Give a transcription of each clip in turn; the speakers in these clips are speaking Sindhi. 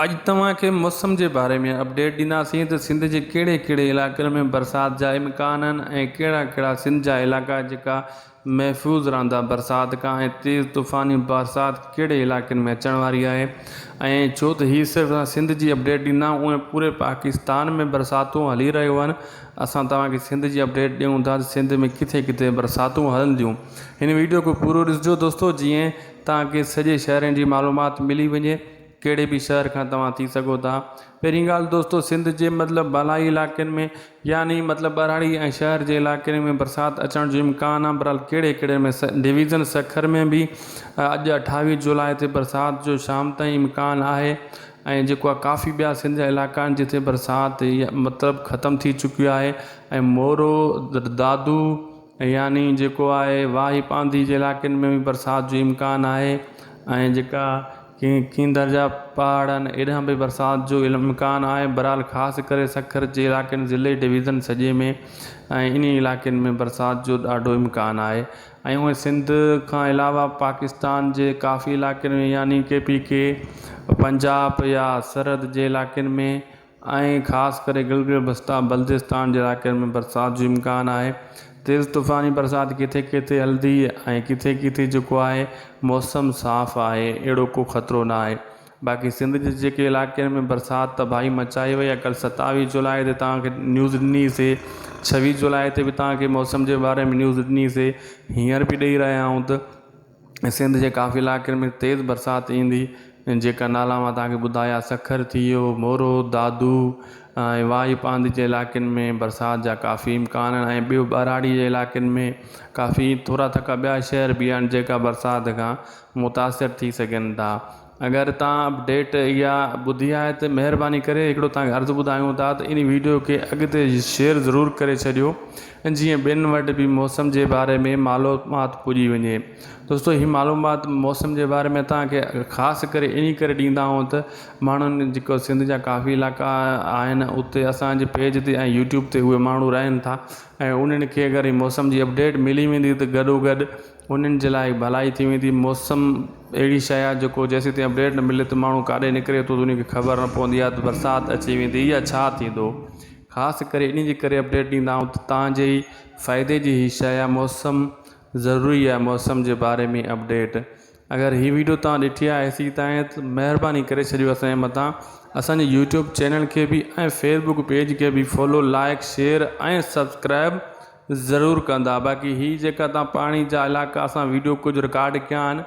اڄ توهان کي موسم جي باري ۾ اپڊيٽ ڏينداسين ته سنڌ جي ڪهڙي ڪهڙي علائقن ۾ برسات جا امڪان آهن ۽ ڪهڙا ڪهڙا سنڌ جا علائقا جيڪا محفوظ رهندا برسات کان ۽ تيز طوفاني برسات ڪهڙي علائقن ۾ اچڻ واري آهي ۽ ڇو ته هي صرف اسان سنڌ جي اپڊيٽ ڏيندا آهيون اونئن پوري پاڪستان ۾ برساتون هلي رهيون آهن اسان توهان کي سنڌ جي اپڊيٽ ڏيون ٿا ته سنڌ ۾ ڪٿي ڪٿي برساتون هلنديون هن ويڊيو کي پورو ڏسجو دوستو جيئن تان ڪي سڄي شهرين جي معلومات ملي وڃي ڪهڙي به شهر کان توهان ٿي سگهو ٿا پهرين ڳالهه دوستو سنڌ جي مطلب بالائي علائقن ۾ يعني مطلب ٻهراڙي ۽ شهر جي علائقن ۾ برسات اچڻ جو امڪان آهي برحال ڪهڙي ڪهڙي ۾ ڊويزن سکر ۾ به اڄ اٺاويهه جولاء تي برسات جو شام تائين امڪان آهي ۽ جيڪو آهي ڪافي ٻيا سنڌ جا علائقا آهن جتي برسات مطلب ختم ٿي چڪي آهي ۽ مورو دادو يعني جيڪو آهي واهي پانڌي جي علائقن ۾ به برسات جو امڪان آهي ۽ جيڪا کين کيندر جا پهاڙ آهن اڏانهن به برسات جو امڪان آهي برحال خاص ڪري سکر جي علائقن ضلعي ڊويزن سڄي ۾ ۽ انهي علائقن ۾ برسات جو ڏاڍو امڪان آهي ۽ اهي سنڌ کان علاوه پاڪستان جي ڪافي علائقن ۾ يعني ڪي پي ڪي پنجاب يا سرحد جي علائقن ۾ ۽ خاص ڪري گلگت بستا بلتستان جي علائقن ۾ برسات جو امڪان آهي تيز طوفاني برسات ڪٿي ڪٿي هلندي ۽ ڪٿي ڪٿي جيڪو آهي موسم صاف آهي اهڙو ڪو خطرو نه آهي باقي سنڌ جي جيڪي علائقن ۾ برسات تباهي مچائي وئي آهي ڪل ستاويهه جولاء تي توهان کي نيوز ڏني سي ڇويهه جولاء تي به توهان کي موسم جي باري ۾ نيوز ڏني سي هينئر به ڏئي رهيا آهيون ته سنڌ جي ڪافي علائقن ۾ تيز برسات ايندي جيڪا نالا مان تانکي ٻڌايا سکر ٿي ويو مورو دادو ۽ واهي پانڌي جي علائقن ۾ برسات جا ڪافي امڪان آهن ۽ ٻيو ٻهراڙي جي علائقن ۾ ڪافي ٿورا ٿڪا ٻيا شهر بي آهن جيڪا برسات کان متاثر ٿي سگهن ٿا اگر توهان اپڊيٽ اها ٻڌي آهي ته مهرباني ڪري هڪڙو توهان کي عرض ٻڌايون ٿا ته ان ويڊيو کي اڳتي شيئر ضرور ڪري ڇڏيو جيئن ٻين وٽ به موسم جي باري ۾ معلومات پڄي وڃي دوستو هي معلومات موسم جي باري ۾ توهان کي خاص ڪري انهي ڪري ڏيندا آهيون ته ماڻهن جيڪو سنڌ جا ڪافي علائقا آهن اتي اسانجي پيج تي ۽ يوٽيوب تي اهي ماڻهو رهن ٿا ۽ انهن کي اگر هي موسم جي اپڊيٽ ملي ويندي ته گڏو گڏ انهن جي لاء هڪ ڀلائي ٿي ويندي. موسم اهڙي شيء آهي جيڪو جيسيتائين اپڊيٽ نه ملي ته ماڻهو ڪاڏي نڪري ٿو ته ان کي خبر نه پوندي آهي ته برسات اچي ويندي يا ڇا ٿيندو. خاص ڪري انهي جي ڪري اپڊيٽ ڏيندا آهيون ته توهان جي ئي فائدي جي هي شيء آهي موسم ضروري آهي موسم جي باري ۾ اپڊيٽ اگر هي ويڊيو توهان ڏٺي آهي هيسيتائين ته مهرباني ڪري ڇڏيو اسان جي مٿان اسان جي يوٽيوب چينل کي به ۽ فيسبوڪ پيج کي به فالو لائڪ شيئر ۽ سبسڪرائب ضرور ڪندا باقي هي جيڪا توهان پاڻي جا علائقا اسان ويڊيو ڪجهه رڪارڊ ڪيا آهن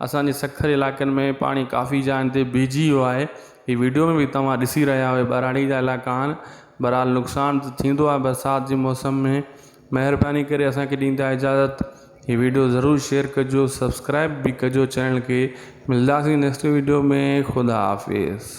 اسان جي سکر علائقن ۾ پاڻي ڪافي جاين تي بيهجي ويو آهي هي ويڊيو ۾ به توهان ڏسي رهيا آهيو ٻهراڙي جا علائقا آهن بهرحال نقصان ته ٿيندو آهي برسات جي موسم ۾ مهرباني ڪري اسانکي ڏيندا اجازت هي ويڊيو ضرور شيئر ڪجو سبسڪرائب به ڪجو چينل کي ملداسين نيڪسٽ ويڊيو ۾ خدا حافظ.